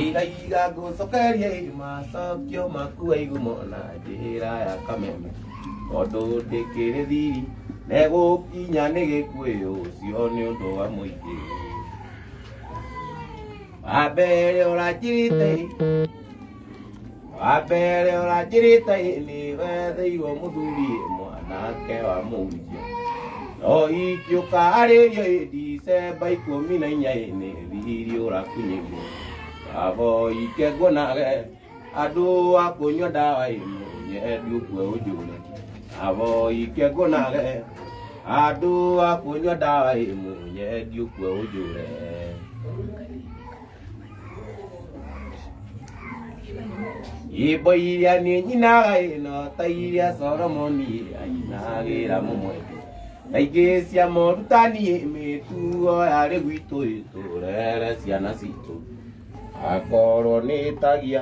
Igaiga ngũcokerie macokio maku waigumo na njĩra ya kameme tondũ ndĩkĩrĩ thiri negũkinya nĩ gĩkuĩ ũcio nĩ ũndũ wa mũingĩ wa mbere ũranjirĩte wambere ũranjĩrĩte nĩ wetheirwo mũthuri mwanake wa mũhunjia no ingĩũka arĩrio ndicemba ikũmi na inya nĩ thiri ũrakunyĩrio baba ike nguonage andũ a kũnyua ndawa ĩmwe nyendu kwe ũnjũre baba ike nguonage andũ a kũnyua ndawa ĩmwe nyendu kwe ũnjũre imbo iria niĩ nyinaga ĩno ta iria solomoni ainagĩra mũmwe kaingĩ cia morutani mĩtuo yarĩ gwitũ ĩtũrere ciana citũ akorwo nĩ tagia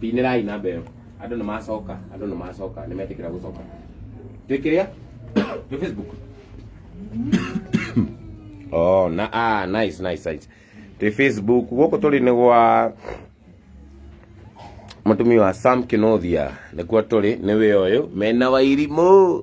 pinĩrai namba ĩyo andũ nĩ macoka andũ nĩ macoka nĩ metĩkĩra gũcoka twĩkĩrĩa twĩ facebook oh na ah nice nice nice twĩ facebook gũkũ tũrĩ nĩ gwa mũtumia wa sam kinothia nĩkuo tũrĩ nĩ wĩ ũyũ mena wairimũ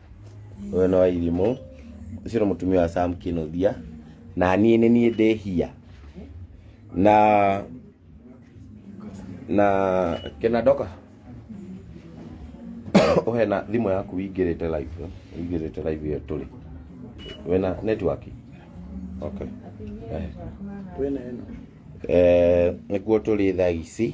ũyũ nĩ wa irimũ ũcio nĩ mũtumia wa sam kĩnũthia na niĩ nĩ niĩ ndĩhia na na kena ndoka ũhe na thimũ yaku wingĩrĩte live wingĩrĩte live ĩyo tũrĩ wĩna network okay eh. Eh, nĩkuo tũrĩ thaa ici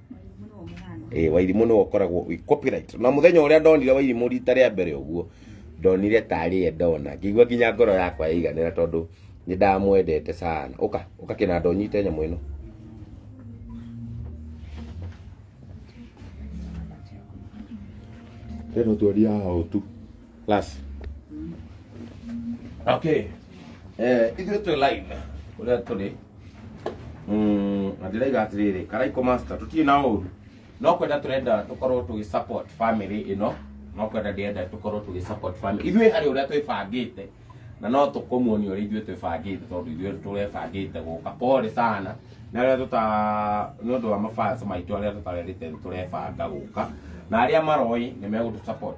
Wairimũ nĩwe mũhano. ĩ wairimũ nĩwe ũkoragwo wĩ copyright na mũthenya ũrĩa ndonire wairimũ rita rĩa mbere ũguo ndonire tarĩ ye ndona ngĩigua nginya ngoro yakwa yaiganĩra tondũ nĩ ndamwendete sana ũka ũka kĩnanda ũnyite nyamũ ĩno tena twaria hao tu class okay eh ithuĩ twĩ live ũrĩa tũrĩ Mm, na ndĩraiga atĩrĩrĩ karaiko master tũtirĩ na ũru no kwenda tũrenda tũkorwo tũgĩ support family ĩno no kwenda ndĩrenda tũkorwo tũgĩ support family ithuĩ harĩ ũrĩa twĩbangĩte na no tũkũmuonia ũrĩa ithuĩ twĩbangĩte tondũ ithuĩ tũrebangĩte gũka pole sana na arĩa tũta nĩ ũndũ wa mabans maitũ arĩa tũtarerĩte nĩ tũrebanga gũka na arĩa maroĩ nĩ megũtũ support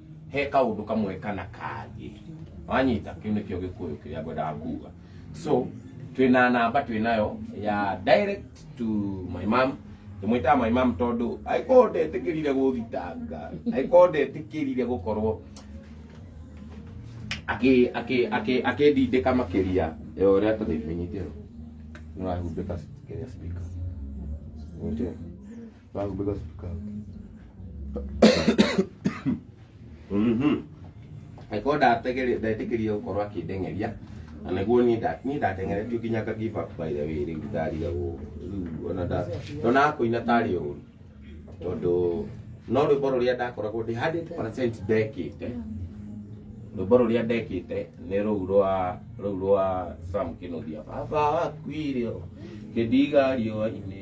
he kaundu kamwe kana kangĩ wanyita kĩu nĩkĩo gĩkũyũ kĩrĩa ngwendaga kuga so twĩna namba twĩnayo ya direct to my mom ndĩmwĩtaga my mom tondũ angĩkorwo ndetĩkĩrire gũthitanga angĩkorwo ndetĩkĩrire gũkorwo akĩ- akĩ- akĩ- akĩndindĩka makĩria ya ũrĩa tũthĩimenyithio nĩwahumbĩka kĩrĩa speaker Ũnjũĩ? Bago bigas ka. Mhm. Eko ndategere ndetekeria gukorwo akindengeria na niguo ni nda ni ndatengeretio kinya ka give up by the way riu ndariga gu riu ona nda ndona kuina tari uru tondu no rwimbo ruria ndakoragwo ndi 100% ndekite rwimbo ruria ndekite ni ruu rwa ruu rwa Sam Kinuthia baba wakuire kidiga riũa-inĩ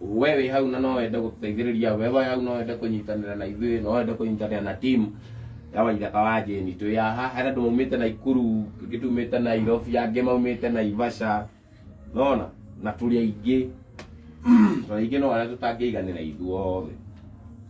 we wĩ hau na no wende gũtũteithĩrĩria we wĩ hau no wende kũnyitanĩra na ithuĩ no wende kũnyitanĩra na timu ya waithaka wa jeni twĩ ya haha hena andũ maumĩte na ikuru angĩ tumĩte na irobi angĩ maumĩte na ivaca nona na tũrĩ aingĩ tũrĩ aingĩ no arĩa tũtangĩiganĩra ithuothe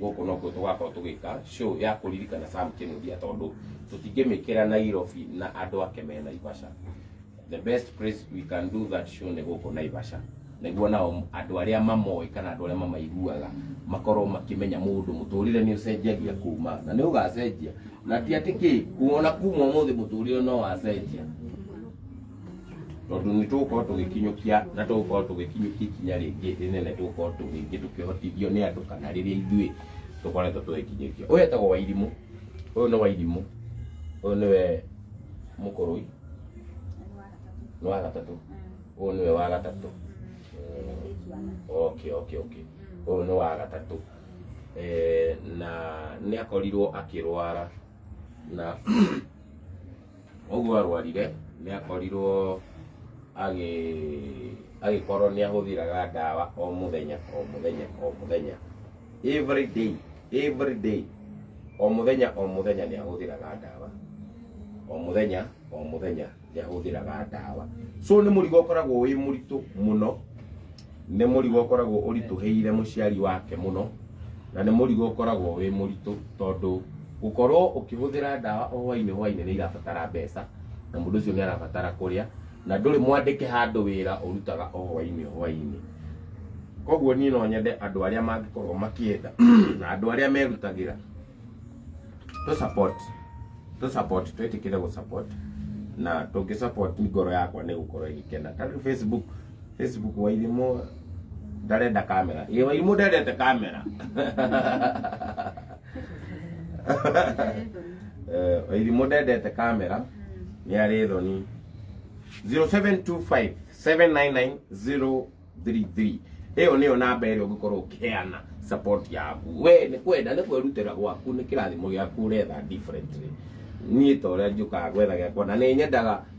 gũkũ nokuo tũgakorwo tũgĩka show ya kũririkana Sam Kinuthia tondũ tũtingĩmĩkĩra Nairobi na andũ ake me Naivasha the best place we can do that show nĩ gũkũ Naivasha nĩguo nao andũ arĩa mamoĩ kana andũ arĩa mamaiguaga makorwo makĩmenya mũndũ mũtũrĩre nĩ ũcenjagia kuma na nĩ ũgacenjia na ti atĩ kĩ kuona kuma ũmũthĩ mũtũrĩre no wacenjia tondũ nĩ tũgũkorwo tũgĩkinyũkia na tũgũkorwo tũgĩkinyũkia ikinya rĩngĩ rĩnene tũgũkorwo tũgĩngĩ tũkĩhotithio nĩ andũ kana rĩrĩa ithuĩ tũkoretwo tũgĩkinyũkia ũyũ etagwo wairimũ ũyũ nĩ wairimũ ũyũ nĩwe mũkũrũi nĩ wa gatatũ ũyũ nĩwe wa gatatũ okay okay okay ũyũ nĩ wa gatatũ eh, na nĩ akorirwo akĩrwara na Ũguo arwarire nĩ akorirwo agĩ agĩkorwo nĩ ahũthĩraga ndawa o mũthenya o mũthenya o mũthenya every day every day o mũthenya o mũthenya nĩ ahũthĩraga ndawa o mũthenya o mũthenya nĩ ahũthĩraga ndawa so nĩ mũrigo ũkoragwo wĩ mũritũ mũno nĩ mũrigo ũkoragwo ũritũhĩire mũciari wake mũno na nĩ mũrigo ũkoragwo wĩ mũritũ tondũ gũkorwo ũkĩhũthĩra ndawa o hwainĩ hwainĩ nĩ irabatara mbeca na mũndũ ũcio nĩ arabatara kũrĩa na ndũrĩ mwandĩke handũ wĩra ũrutaga o hwainĩ hwainĩ koguo niĩ no nyende andũ arĩa mangĩkorwo makĩenda na andũ arĩa merutagĩra tũ support tũ support twĩtĩkĩre gũ support na tũngĩ support ngoro yakwa nĩ gũkorwo ĩgĩkena tarĩu Facebook Facebook wairimu ndarenda kamera ye wairimu ndarenda kamera Eh, wairimu ndendete kamera nĩ arĩ thoni 0725 799 033 ĩyo nĩyo namba ĩrĩa ũngĩkorwo ũkĩheana support yaku we nĩ kwenda nĩ kwĩrutĩra gwaku nĩ kĩrathimo gĩaku ũretha differently niĩ ta ũrĩa njũkaga gwetha gĩakwa na nĩ nyendaga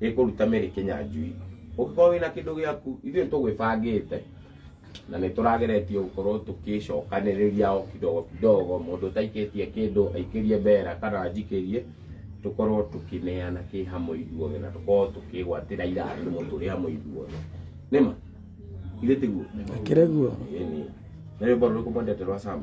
gĩkũruta mĩrĩ kĩnyanjui ũngĩkorwo wĩna kĩndũ gĩaku ithuĩ tũgwĩbangĩte na nĩ tũrageretie gũkorwo tũkĩcokanĩrĩria o kidogo kidogo mũndũ ũtaikĩtie kĩndũ aikĩrie mbera kana njikĩrie tũkorwo tũkĩneana kĩ hamwe ithuothe na tũkorwo tũkĩgwatĩra irathimo tũrĩ hamwe ithuothe nĩma ithe tiguo Akĩrĩ guo. Ĩĩ nĩ. nĩ rwĩmbo rũrĩkũ mwendete rwa sama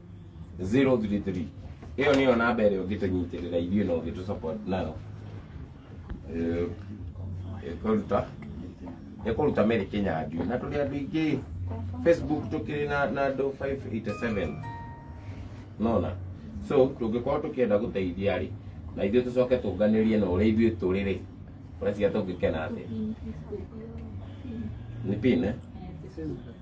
033 ĩyo nĩyo namba ĩrĩa ũngĩtũnyitĩrĩra ithuĩ na ũngĩtũ support nayo Eh, ĩkũruta ĩkũruta Mary Kĩnyanjui na tũrĩ andũ aingĩ Facebook tũkĩrĩ na na andũ 587 nona so tũngĩkorwo tũkĩenda gũteithia rĩ na ithuĩ tũcoke tũnganĩrie na ũrĩa ithuĩ tũrĩ rĩ ũreciria tũngĩkena atĩa nĩ pin eh? This is the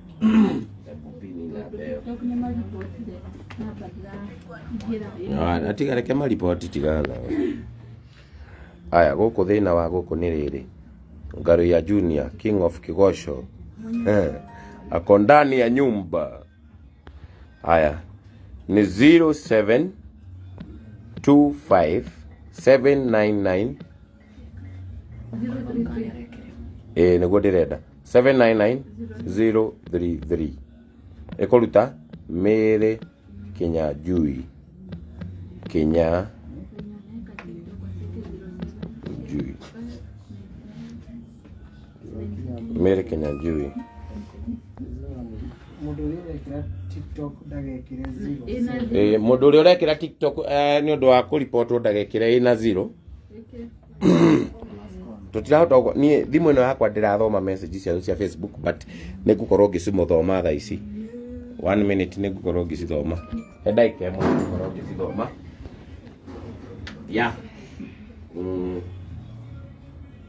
Ah, tiga reke mariboti tigaga aya gũkũ thĩna wa gũkũ nĩ rĩrĩ ngaru ya junior king of kigosho Eh, ako ndani ya nyumba aya ni 0725 799 ĩĩ nĩguo ndĩrenda 799033 ĩkũruta mĩrĩ kinya njui kinya njui Mary Kinyanjui. Mũndũ ũrĩa ũrekĩra TikTok ndagekĩre zero. Eh, Mũndũ ũrĩa ũrekĩra TikTok eh, nĩ ũndũ wa kũribotwo ndagekĩre ĩna zero. Tũtirahota gũko- niĩ thimũ ĩno yakwa ndĩrathoma message ciao cia Facebook but nĩ ngũkorwo ngĩcimũthoma thaa ici. One minute nĩ ngũkorwo ngĩcithoma. He ndagĩka ĩmwe nĩ ngũkorwo ngĩcithoma. Yeah. Mm.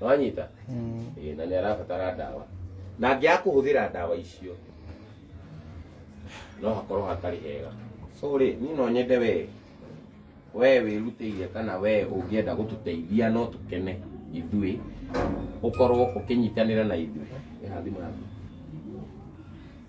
wanyita Ĩĩ, na nĩ arabatara ndawa na angĩaga kũhũthĩra ndawa icio no hakorwo hatarĩ hega so rĩ niĩ no nyende wee wee wĩrutĩire kana wee ũngĩenda gũtũteithia no tũkene ithuĩ ũkorwo ũkĩnyitanĩra na ithuĩ Ĩha thimũ yaku.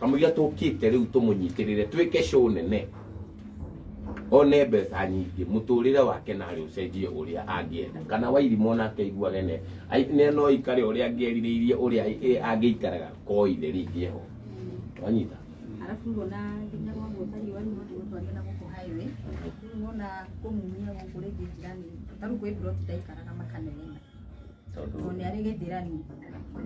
kamũira tũkĩte rĩu tũmũnyitĩrĩre twĩke show nene one mbeca nyingĩ mũtũrĩre wake na arĩ ũcenjie ũrĩa angĩenda kana wairimũ ona akeiguage ne ai- ne no ikare ũrĩa angĩerirĩirie ũrĩa ĩ- ĩ- angĩikaraga koithe rĩngĩ ho wanyita Alafu ngona nginya kwa mũtari wa nyuma tu watu wagenda gũkũ highway. Ngona kũmumia gũkũ rĩngĩ njirani. Taru kwĩ bro tutaikaraga makanene. tondũ tondũ nĩ arĩ gĩthĩrani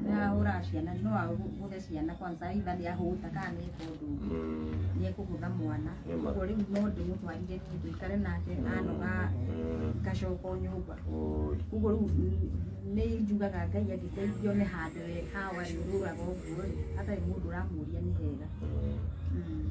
nĩ ahũra ciana no agũthe ciana kwanza itha nĩ ahũta kana nĩ eka ũndũ ũngĩ mm, nĩ ekũgũtha mwana Nĩ ma. koguo rĩu no ndĩmũtwarire niĩ ndũikare nake anoga mm, ngacoka o nyũmba oi, koguo rĩu n- nĩ njugaga ngai angĩteithio nĩ handũ we hawa rĩ ũrũraga ũguo rĩ hatarĩ mũndũ ũramũria nĩ hega mm. Mm.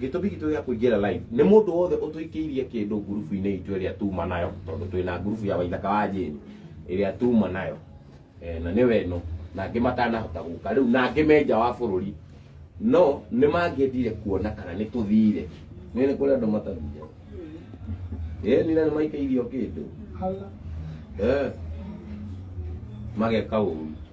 gĩtũmi gitũ gĩa kũingĩra live nĩ mũndũ wothe ũtũikĩirie kĩndũ ngurubu-inĩ itũ ĩrĩa tuma nayo tondũ twĩ na ngurubu ya waithaka wa jane ĩrĩa tuma nayo Eh, na nĩ weno na angĩ matanahota gũka rĩu na angĩ me nja wa bũrũri no nĩ mangĩendire kuona kana nĩ tũthire nĩ nĩ kũrĩ andũ matathire ĩĩ nina nĩ maikĩirio kĩndũ Eh, mageka ũru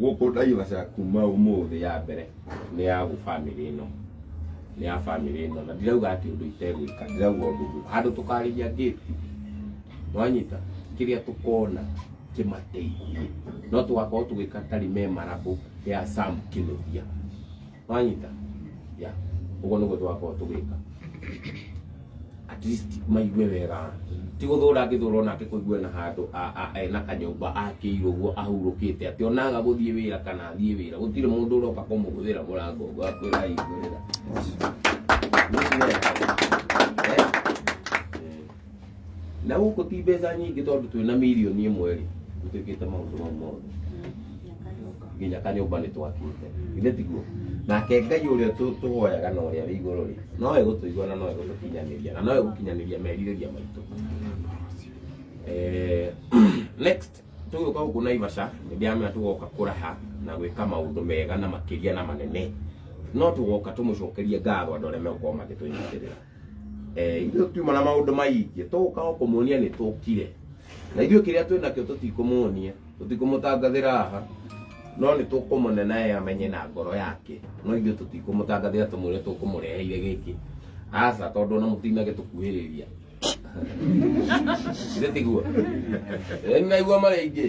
gũkũ Naivasha kuma ũmũthĩ ya mbere nĩ ya gũ family ĩno nĩ ya family ĩno na ndirauga atĩ ũndũ itegwĩka ndirauga ũndũ ũguo handũ tũkarĩria gate wanyita kĩrĩa tũkona kĩmateithie no tũgakorwo tũgĩka ta rememberable ya Sam Kinuthia mwanyita ya uguo niguo twakorwo tugika at least maigue wega ti guthura ngithura ona akikuigue na handu a- a- ena kanyumba akĩirwo ũguo ahurũkĩte atĩ onaga gũthiĩ wĩra kana athiĩ wĩra gũtirĩ mũndũ ũroka kũmũgũthĩra mũrango ũguo akwĩra hingũrĩra na gũkũ ti mbeca nyingĩ tondũ twĩ na mirioni ĩmwe rĩ gũtuĩkĩte maũndũ mau mothe nginya kanyũmba nĩ twakĩte ithe tiguo nake ngai ũrĩa tũ- tũhoyaga na ũrĩa wĩ igũrũ rĩ no egũtũigua na no egũtũkinyanĩria na no egũkinyanĩria merirĩria maitũ Eh, next tũgũka gũkũ naivasha nĩ ndĩramenya tũgoka kũraha na gwĩka maũndũ mega na makĩria na manene no tũgoka tũmũcokerie ngatho andũ arĩa megũkorwo magĩtũnyitĩrĩra eh ithuĩ tiuma na maũndũ maingĩ tũgũka o kũmuonia nĩ tũkire na ithuĩ kĩrĩa twĩ nakĩo tũtikũmuonia tũtikũmũtangathĩra haha no nĩ tũkũmũne naye amenye na ngoro yake no ithuĩ tũtikũmũtangathĩra tũmwĩre tũkũmũreheire gĩkĩ aca tondũ ona mũtinage tũkuhĩrĩria ithe tiguo nĩ naigua marĩa ingĩ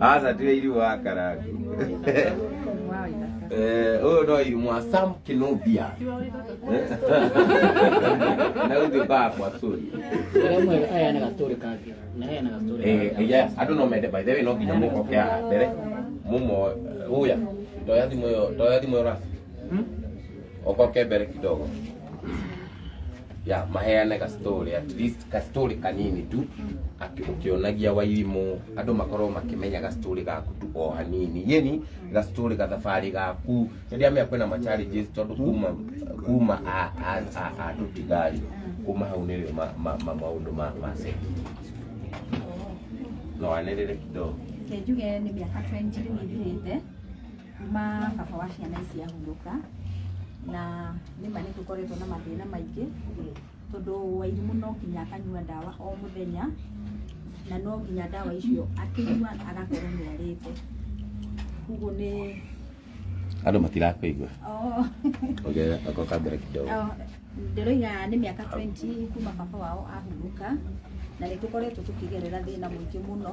aca tiga irimũ wa karangu Eh, ũyũ no irimũ wa sam kinobia na ũthiũ kakwa sori Ũrĩa mwega aya nĩ gatũrĩ kangĩ. Na aya nĩ gatũrĩ Eh, kangĩ. yes, andå no mende by the way no nginya må koke haha mbere må mo å ya toya thimå ä yo toya thimå ä yo rasi å koke mbere kidogo ya maheane ka story at least ka story kanini tu aki- ũkĩonagia wairimũ andũ makorwo makĩmenya ga story gaku tu o hanini yeni ga story ga thabarĩ gaku nĩndĩamea kwĩna ma challenges tondũ kuma kuma a- a- a- a tũtigari kuma hau nĩrĩ ma- ma- ma- maũndũ ma ma set no anĩrĩre kidogo Njuge nĩ mĩaka 20 rĩu ĩthirĩte Kuma baba wa ciana ici ahurũka na nĩma nĩ tũkoretwo na mathĩna maingĩ tondũ Wairimu no nginya akanyua ndawa o mũthenya na no nginya ndawa icio akĩnyua agakorwo nĩ arĩte koguo nĩ andå matirakåigua oh, ongerera ako kambere kidogo oh, ndĩroiga nĩ mĩaka 20 kuma baba wao ahurũka na nĩ tũkoretwo tũkĩgerera thĩna mũingĩ mũno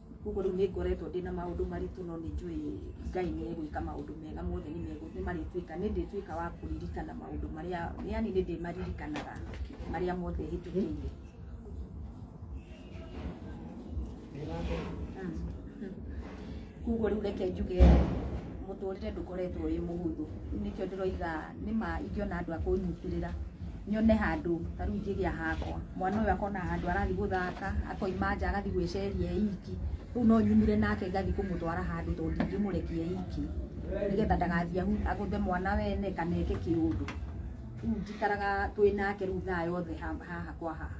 koguo rĩu nĩ ngoretwo ndĩ na maũndũ maritũ no nĩ njũĩ ngai nĩ egwĩka maũndũ mega mothe nĩ megũ- nĩ marĩtuĩka nĩ ndĩtuĩka wa kũririkana maũndũ marĩa yani nĩ ndĩmaririkanaga marĩa mothe hĩtũkĩire koguo rĩu reke njuge mũtũrĩre ndũkoretwo wĩ mũhũthũ nĩkĩo ndĩroiga nĩ ma ingĩona andũ a kũnyitĩrĩra nyone handũ ta rĩu ingĩgĩa hakwa mwana ũyũ akona handũ arathiĩ gũthaka akoima nja agathiĩ gwĩceria e iki rĩu no nyumire nake ngathiĩ kũmũtwara handũ tondũ ndingĩmũrekia e iki nĩgetha ndagathiĩ ahu- agũthe mwana wene kana eke kĩũndũ rĩu njikaraga twĩ nake rĩu thaa yothe ha- haha kwa haha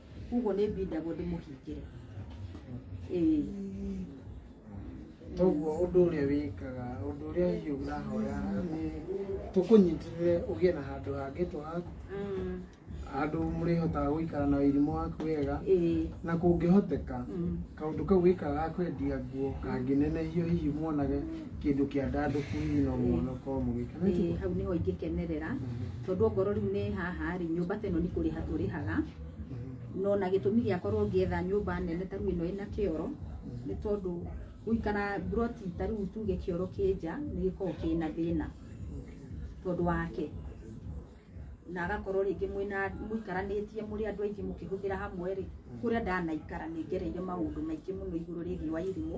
koguo nĩ mbindagwo ndĩmũhingĩre ĩĩ toguo ũndũ ũrĩa wĩkaga ũndũ ũrĩa hihi ũrahoya nĩ tũkũnyitĩrĩre ũgĩe na handũ hangĩ twahaku Mm, handũ mũrĩhotaga gũikara na irimũ waku wega ĩĩ na kũngĩhoteka Mm. kaũndũ kau wĩkaga ga kwendia nguo kangĩnenehio hihi muonage kĩndũ kĩandandũku hihi no mwana ũkorwo mũgĩkena Ĩĩ, hau nĩho ingĩkenerera tondũ ongorwo rĩu nĩ haha rĩ nyũmba ta ĩno nĩ kũrĩha tũrĩhaga no na gĩtũmi gĩa korwo ngĩetha nyũmba nene ta rĩu ĩno ĩna kĩoro nĩ tondũ gũikara mburoti ta rĩu tuge kĩoro kĩ nja nĩ gĩkoragwo kĩna thĩna tondũ wake na agakorwo rĩngĩ mwĩna mũikaranĩtie mũrĩ andũ aingĩ mũkĩhũthĩra hamwe rĩ kũrĩa ndanaikara nĩ ngereire maũndũ maingĩ mũno igũrũ rĩgiĩ wa irimũ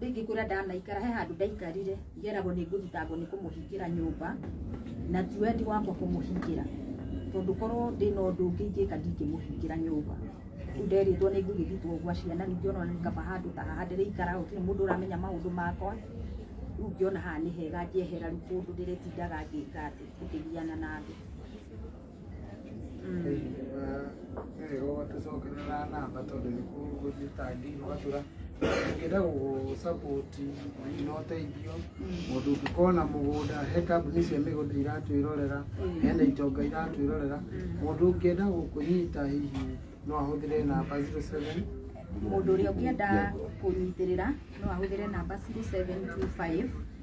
rĩngĩ kũrĩa ndanaikara he handũ ndaikarire ngeragwo nĩ ngũthitangwo nĩ kũmũhingĩra nyũmba na ti wendi wakwa kũmũhingĩra tondũ korwo ndĩ na ũndũ ũngĩ ingĩka ndingĩmũhingĩra nyũmba rĩu nderĩtwo nĩ ngũgĩthitwo gwa ciana ningĩ ona ngaba handũ ta haha ndĩrĩikara gũtirĩ mũndũ ũramenya maũndũ makwa rĩu ngĩona haha nĩ hega njehera rĩu kũndũ ndĩrĩtindaga ngĩka atĩ ngĩgiana na andũ ngenda gũgũsapoti na ũteithio mũndũ ũngĩkorwo na mũgũnda he kambuni cia mĩgũnda iratwĩrorera hena itonga iratwĩrorera mũndũ ũngĩenda gũkũnyita hihi no ahũthĩre namba 07 mũndũ ũrĩa ũngĩenda kũnyitĩrĩra no ahũthĩre namba 0725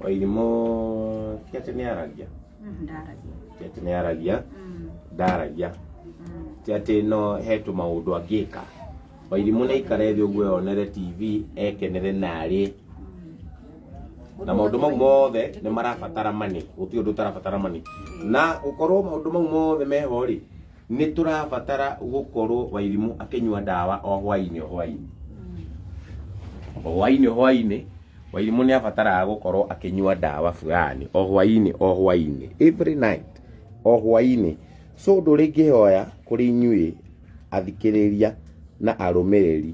Wairimũ ti atĩ nĩ aragia Mm, ndaragia ti atĩ nĩ aragia Mm, ndaragia mm. ti atĩ no he tũmaũndũ angĩka wairimũ nĩ aikare thĩ ũguo yonere tv ekenere narĩ na maũndũ mau mothe nĩ marabatara mani gũtirĩ ũndũ ũtarabatara mani na gũkorwo maũndũ mau mothe meho rĩ nĩ tũrabatara gũkorwo wairimu akĩnyua ndawa o hwainĩ o hwainĩ o hwainĩ o hwainĩ wairimu nĩ abataraga gũkorwo akĩnyua ndawa fulani o hwainĩ o hwainĩ every night o hwainĩ so ũndũ ũrĩa ingĩhoya kũrĩ inyuĩ athikĩrĩria na arũmĩrĩri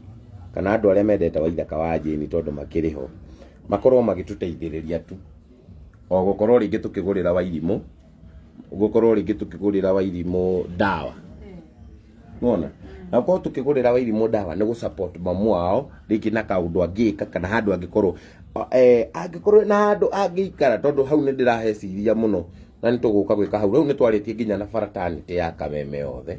kana andũ arĩa mendete waithaka wa jeni tondũ makĩrĩ ho makorwo magĩtũteithĩrĩria tu o gũkorwo rĩngĩ tũkĩgũrĩra wairimũ gukorwo ringi tukigurira wairimu dawa nona na gukorwo tukigurira wairimu dawa ni gu support mamu wao ringi na kaundu angika kana handu angikorwo eh angikorwo na handu angikara tondu hau ni ndirahe ciria muno na ni tuguka gwika hau riu ni twaritie nginya na fraternity ya kameme yothe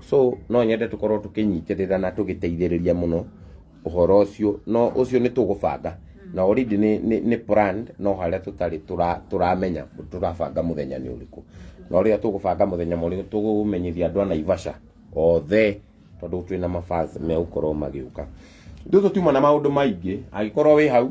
so no nyende tukorwo tukinyitĩrĩra na tũgĩteithĩrĩria mũno ũhoro ũcio no ũcio nĩ tũgũbanga na already nĩ nĩ- nĩ planned no harĩa tũtarĩ tũra- tũramenya tũrabanga mũthenya nĩ ũrĩkũ na ũrĩa tũgũbanga mũthenya mũrĩkũ tũgũmenyithia andũ a naivasha othe tondũ twĩna mabas megũkorwo magĩũka rĩu tũtiuma na maũndũ maingĩ angĩkorwo wĩ hau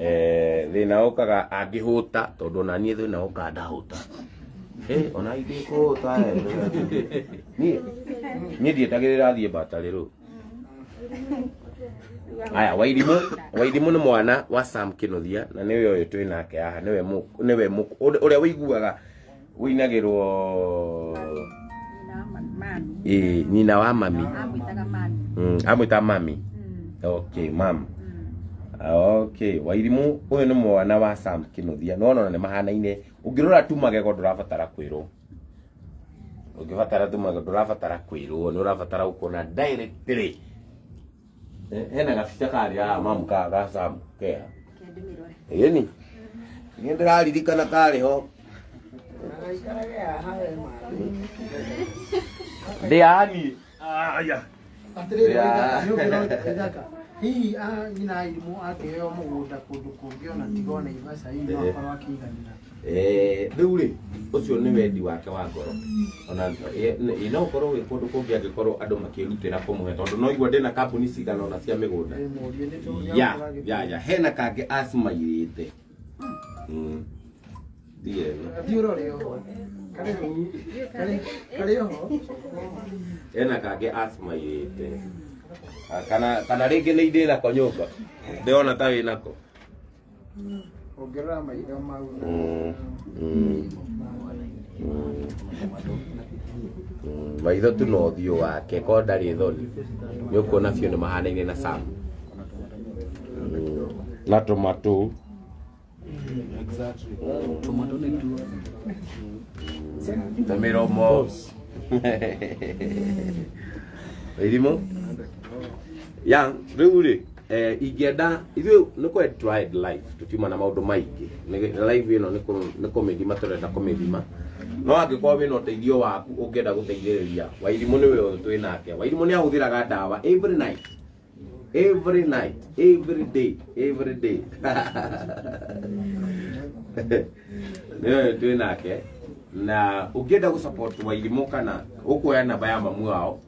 eh thina okaga angihuta tondu ona nie thina okaga ndahuta eh ona ingikuhuta eh nie nie ndietagirira thie batari ru aya wairimu wairimu ni mwana wa sam kinuthia na niwe uyu twi nake haha niwe mu- niwe mu- uria wiguaga wĩinagĩrwo ĩĩ nyina wa mami Mm, amwĩta mami okay mam okay wairimũ ũyũ nĩ mwana wa sam kĩnũthia nĩwona ona nĩ mahanaine ũngĩrora tu magego ndũrabatara kwĩrwo ũngĩbatara tu magego ndũrabatara kwĩrwo nĩ ũrabatara gũkuona directly Eh, hena gabica karĩa aya mamu ka ga Sam kea ĩni nĩ ndĩraririkana karĩ ho ndĩani aya hihi a nyina arimũ akĩheo mũgũnda kũndũ kũngĩ ona tiga ona ibaca hihi no akorwo akĩiganĩra Eh, rĩu rĩ ũcio nĩ wendi wake wa ngoro ona eh, nĩ- no ũkorwo wĩ kũndũ kũngĩ angĩkorwo andũ makĩrutĩra kũmũhe tondũ no igua ndĩna kambuni cigana ona cia mĩgũnda ya ya ya hena kangĩ acimairĩte Mm. ndiye hena kangĩ acimairĩte Ah, kana kana rĩngĩ nĩ indĩra ko nyũmba ndĩrona ta wĩnako ongerera maitho mau na Mm, mm, mm, mm. maitho tu na ũthiũ wake ko ndarĩ thoni nĩ ũkuona biũ nĩ mahanaine na sam na tomato tomato nĩ tuo na mĩromo irimũ ya rĩu rĩ eh, ingĩenda ithuĩ nĩ kwe tried life tũtiuma na maũndũ maingĩ Nĩ- life ĩno nĩ kũ- nĩ kũmĩthima tũrenda kũmĩthima no angĩkorwo wĩna ũteithio waku ũngĩenda gũteithĩrĩria wairimũ nĩ wĩwe twĩ nake wairimũ nĩ ahũthĩraga ndawa every night every night every day every day nĩwe twĩ nake na ũngĩenda gũsupport wairimũ kana ũkuoya namba ya mamu wao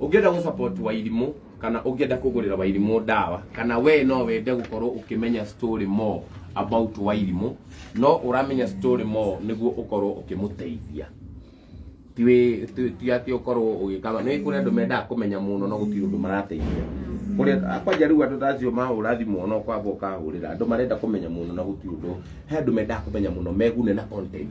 ũngĩenda gũ support wairimũ kana ũngĩenda kũgũrĩra wairimũ ndawa kana we no wende gũkorwo ũkĩmenya story more about wairimũ no ũramenya story more nĩguo ũkorwo ũkĩmũteithia ti wĩ- ti- ti atĩ ũkorwo ũgĩkama nĩ kũrĩ andũ mendaga kũmenya mũno no gũtirĩ ũndũ marateithia kũrĩa kwanja rĩu andũ tacio mahũra thimũ no kwamba ũkahũrĩra andũ marenda kũmenya mũno na gũtirĩ ũndũ he andũ mendaga kũmenya mũno megune na content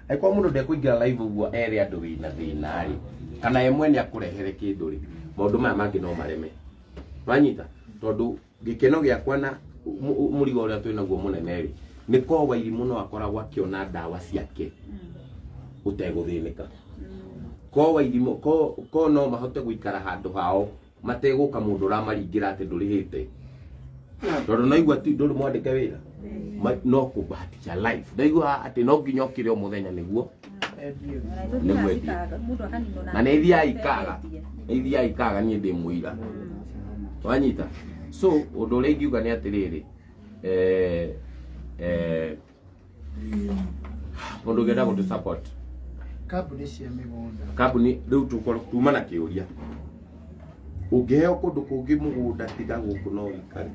angĩkorwo mũndũ ndekũingĩra live ũguo ere andũ wĩna thĩna rĩ kana we mwene akũrehere kĩndũ rĩ maũndũ maya mangĩ no mareme wanyita tondũ gĩkeno gĩakwa na mũ- mũ- mũrigo ũrĩa twĩ naguo mũnene rĩ nĩ korwo wairimũ no akoragwo akĩona ndawa ciake ũtegũthĩnĩka ko wairimũ ko- ko no mahote gũikara handũ hao mategũka mũndũ ũramaringĩra atĩ ndũrĩhĩte tondũ naigua ti ndũrĩ mwandĩke wĩra Ma- no kũbahatisha life ndaigua atĩ no nginya ũkĩre o mũthenya nĩguo Nĩ mwendia. na nĩ ithiaga ikaga nĩ ithiaga ikaga niĩ ndĩ mũira wanyita so ũndũ ũrĩa ingiuga nĩ atĩrĩrĩ eh, eh, mundu ngenda gutu support kambuni cia mĩgũnda kambuni riu tukoro tuma na kiuria ungeheo kundu kungi mugunda tiga guku no wikare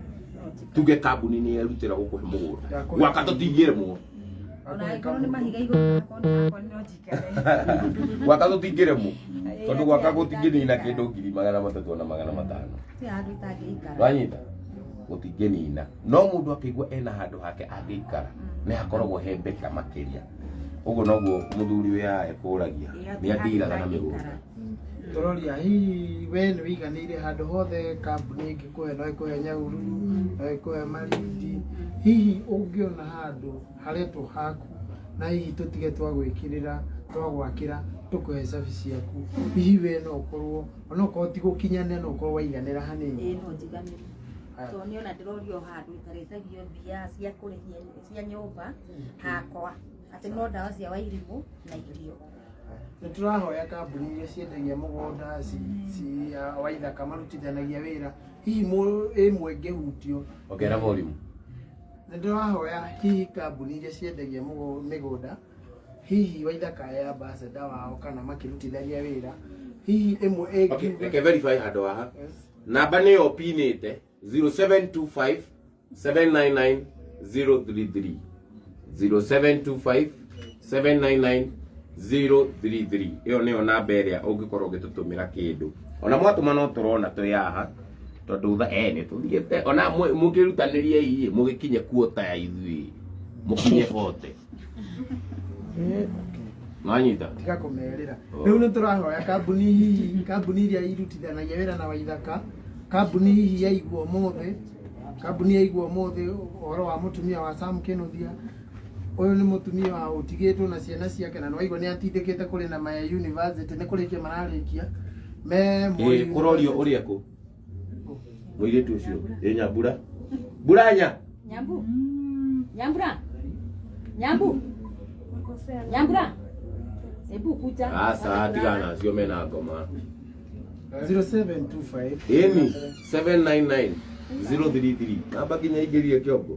tuge kambuni ni erutira gukuhe mugunda gwaka tutingiremwo Ona angĩkorwo nĩ mahiga igũrũ, akorwo nĩ hakwa, nĩ no gwaka tũtingĩremwo tondũ gwaka gũtingĩnina kĩndũ ngiri magana matatũ na magana matano wanyita gũtingĩnina no mũndũ akĩigua ena handũ hake angĩikara nĩ hakoragwo he mbeta makĩria ũguo noguo mũthuri wĩ haha ekũragia nĩ andiraga na mĩgũnda tororia hihi we nĩ wĩiganĩire handũ hothe kambuni ĩngĩkũhe no ĩkũhe nyaururu no ĩkũhe marindi hihi ũngĩona handũ haretwo haku na hihi tũtige twagwĩkĩrĩra twagwakĩra tũkũhe cabi ciaku hihi we no ũkorwo onokorwo ti gũkinyane no ũkorwo waiganĩra hanini ĩĩ no njiganĩre Aya. tondũ nĩona ndĩrorio handũ itarĩtagio mbia cia kũrĩhia cia nyũmba hakwa atĩ no ndawa cia wairimũ na irio nĩ tũrahoya kambuni iria ciendagia mũgũnda ci- ci ya waithaka marutithanagia wĩra hihi mũ- ĩmwe ngĩhutio Ongerera volume. Nĩ ndĩrahoya hihi kambuni iria ciendagia mũgũ- mĩgũnda hihi waithaka ya ambassador wao kana makĩrutithania wĩra hihi ĩmwe Okay, ĩngiuga reke verify handå haha Yes. namba nä yo pinä te 0725 799 033 0725 799 033 ĩyo nĩyo namba ĩrĩa ũngĩkorwo ũgĩtũtũmĩra kĩndũ ona mwatũma no tũrona twĩ haha tondũ tha eh nĩ tũthiĩte ona mũ- mũkĩrutanĩriei mũgĩkinye kuota ya ithuĩ mũkinye bote mwanyita tiga kũmerĩra Oh. rĩu nĩ tũrahoya kambuni hihi kambuni iria irutithanagia wĩra na waithaka kambuni hihi yaigua ũmũthĩ kambuni yaigua ũmũthĩ ũhoro wa mũtumia wa Sam Kĩnũthia Ũyũ nĩ mũtumia wa ũtigĩtwo na ciana ciake na nĩwaigua nĩ atindĩkĩte kũrĩ na maya university nĩ kũrĩkia mararĩkia me Moi ĩ kũrorio University. ũrĩa kũ mũirĩtu ũcio ĩ nyambura mburanya Nyambu. Nyambura. Nyambu. Nyambura. Hebu kuja. aca tigana acio mena ngoma 0725 ĩni 799 033 namba nginya ingĩrie kĩongo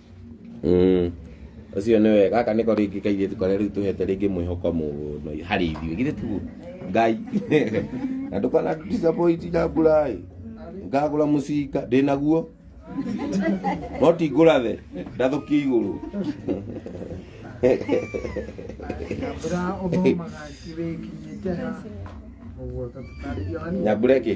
Mm. ũcio nĩ wega gaka nĩko rĩngĩ kairĩtu karĩa rĩu tũhete rĩngĩ mwĩhoko mũno harĩ ithuĩ githĩ tiguo ngai na ndũkana disappoint na ngũraĩ ngagũra mũcinga ndĩ naguo no ti ngũrathe ndathũkie igũrũ Nyambura ũthomaga kĩrĩkinyĩte ha. Ũguo tũtarĩria wani. nyambura ĩkĩ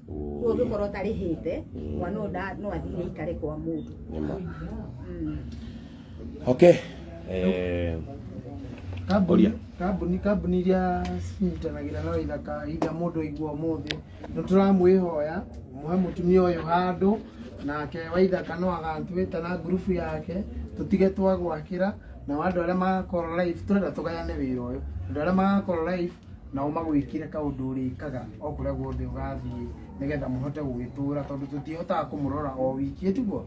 Kuo ngikorwo tarihite mwana uyu nda- no athire ikare kwa mundu. Nĩma. Mm. okay eh, kambuni Oria. kambuni kambuni iria cinyitanagĩra na wĩra kahinda mũndũ aigua ũmũthĩ nĩ tũramwĩhoya muhe mũtumia ũyũ handũ nake waithaka no agatwĩta na ngurubu yake tũtige twagwakĩra nao andũ arĩa magakorwo live tũrenda tũgayane wĩra ũyũ andũ arĩa magakorwo live nao magwĩkire kaũndũ ũrĩkaga o kũrĩa guothe ũgathiĩ nĩgetha mũhote gũgĩtũra tondũ tũtihotaga kũmũrora o wiki ĩtuguo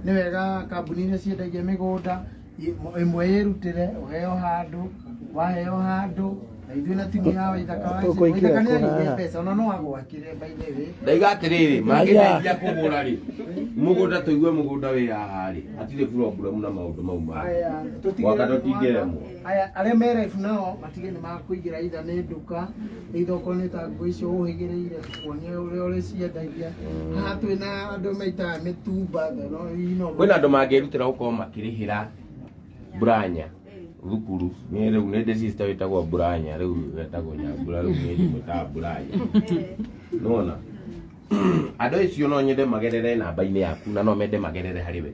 nĩ wega kambuni iria ciendagia mĩgũnda i- ĩmwe yĩrutĩre ũheo handũ waheo handũ na ithuĩ na timu ya waithaka wa Tũkũingĩra waithaka nĩ yarĩire kũraya. mbeca ona no agwakire by the way ndaiga atĩrĩrĩ mangĩteithia kũgũra rĩ mũgũnda tũigue mũgũnda wĩ haha rĩ hatirĩ buroburamu na maũndũ mau mangĩ Aya, tũtigĩre- Gwaka tũtingĩremwo. aya arĩa merebu nao matige nĩ makũigĩra itha nĩ nduka itha okorwo nĩ ta nguo icio ũhĩgĩrĩire tukuonie ũrĩa ũrĩciendagia haha twĩ na andũ maitaga mĩtumba no ino kwĩna andå mangärutera gå korwo makä rä hä ra mburanya thukuru nä rä u nä ndä cita wä tagwo mburanya rä u wetagwo nyambura rä u nä ndä mwä taga mburanya nona andå acio no nyende magerere namba-inä yaku na no mende magerere harä we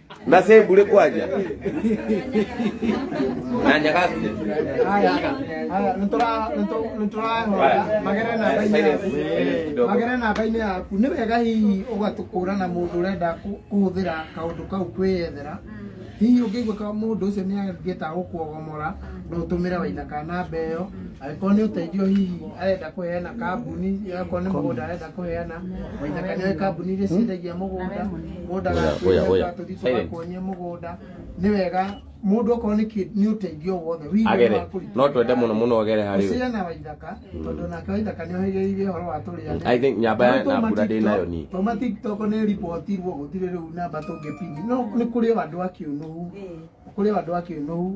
nase mbure kwaja nanjagaste Haya, haya, nitũra- nitũ- nitũrahũra magere namba-inĩ yaku magere namba-inĩ yaku nĩ wega hihi ũgatũkũra na mũndũ ũrenda kũ- kũhũthĩra kaũndũ kau kwĩyethera hihi ũngĩigua ka mũndũ ũcio nĩ angĩta gũkuogomora no ũtũmĩre waithaka namba ĩyo angĩkorwo nĩ ũteithio hihi arenda kũheana kambuni angĩkorwo nĩ mũgũnda arenda kũheana mũthaka nĩ kambuni iria ciendagia mũgũnda mũndũ ndagakuĩre Oya, oya, oya. atũthiĩ Silence. tũgakuonyie mũgũnda nĩ wega mũndũ okorwo nĩ kĩ- nĩ ũteithio wothe wĩigue agere wa kũrutĩra no twende mũno mũno agere harĩ we Hosea na Waithaka tondũ nake Waithaka nĩ ohĩgĩrĩire ũhoro wa tũrĩa I think nyamba ya- na mbura ndĩ nayo niĩ. toma tiktok nĩ ripotirwo gũtirĩ rĩu namba tũngĩpini no nĩ kũrĩ o andũ a kĩũnũhu kũrĩ o andũ a kĩũnũhu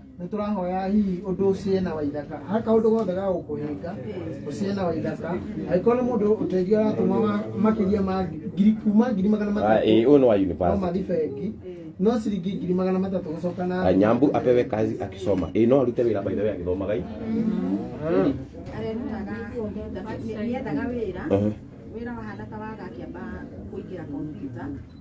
nä tå rahoya hihi å ndå å ciä na waithaka ha kaå ndå gothe ga gå kå hä nga å ciä na waithaka angä korwo nä må ndå å teithio aratå ma makä ria ma ngiri kuma ngiri magana Ah, matatå eh, huyu ni wa no university. mathi bengi no ciringi ngiri magana matatå gå coka na Ah, Nyambu apewe kazi akisoma. Eh, no arute wira by the way akithomaga hii. arerutaga nĩethaga wĩra Mhm. wĩra wahana ta waga akĩamba kũingĩra kompiuta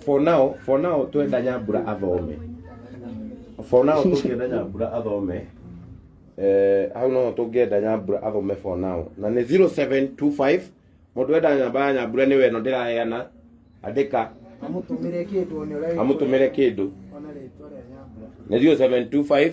for now for now twenda nyambura athome for now tũngĩenda nyambura athome eh, hau noho tũngĩenda nyambura athome for now na nĩ 0725 mũndũ enda nyamba ya nyambura nĩ weno ndĩraheana andĩka amũtũmĩre kĩndũ one ũrĩa amũtũmĩre kĩndũ ona rĩtwa rĩa nyambura nĩ 0725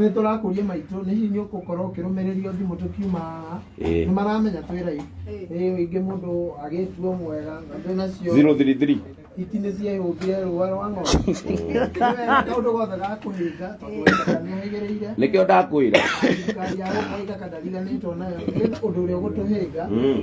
Nĩ tũrakũria maitũ nĩ hihi nĩ ũgũkorwo ũkĩrũmĩrĩrio thimũ tũkiuma haha Ĩĩ. nĩ maramenya twĩ raivu ĩĩ ingĩ mũndũ agĩtuo mwega na twĩ nacio 033 hiti nĩ ciehũmbire rũa rwa ng'ombe kaũndũ gothe gakũhinga tondũ Ngai nĩ ahĩgĩrĩire nĩkĩo ndakwĩra thirikari ya gũkũ ĩgakandariganĩtwo nayo nĩ ũndũ ũrĩa ũgũtũhĩnga Mm.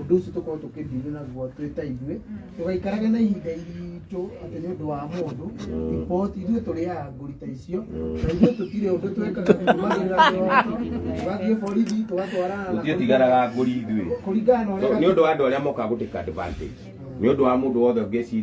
ũndũ ũcio tũkorwo tũkĩdili naguo twĩ ta ithuĩ tũgaikarage na ihinda iritũ atĩ nĩ ũndũ wa mũndũ riboti ithuĩ tũrĩaga ngũri ta icio na ithuĩ tũtirĩ ũndũ twekaga tũmagĩrĩra kĩroto tũgathiĩ borithi tũgatwarana na Gũtirĩ tigaraga ngũri ithuĩ. kũringana na ũrĩa Nĩ ũndũ wa andũ arĩa mokaga gũtĩka advantage. Nĩ ũndũ wa mũndũ wothe ũngĩciria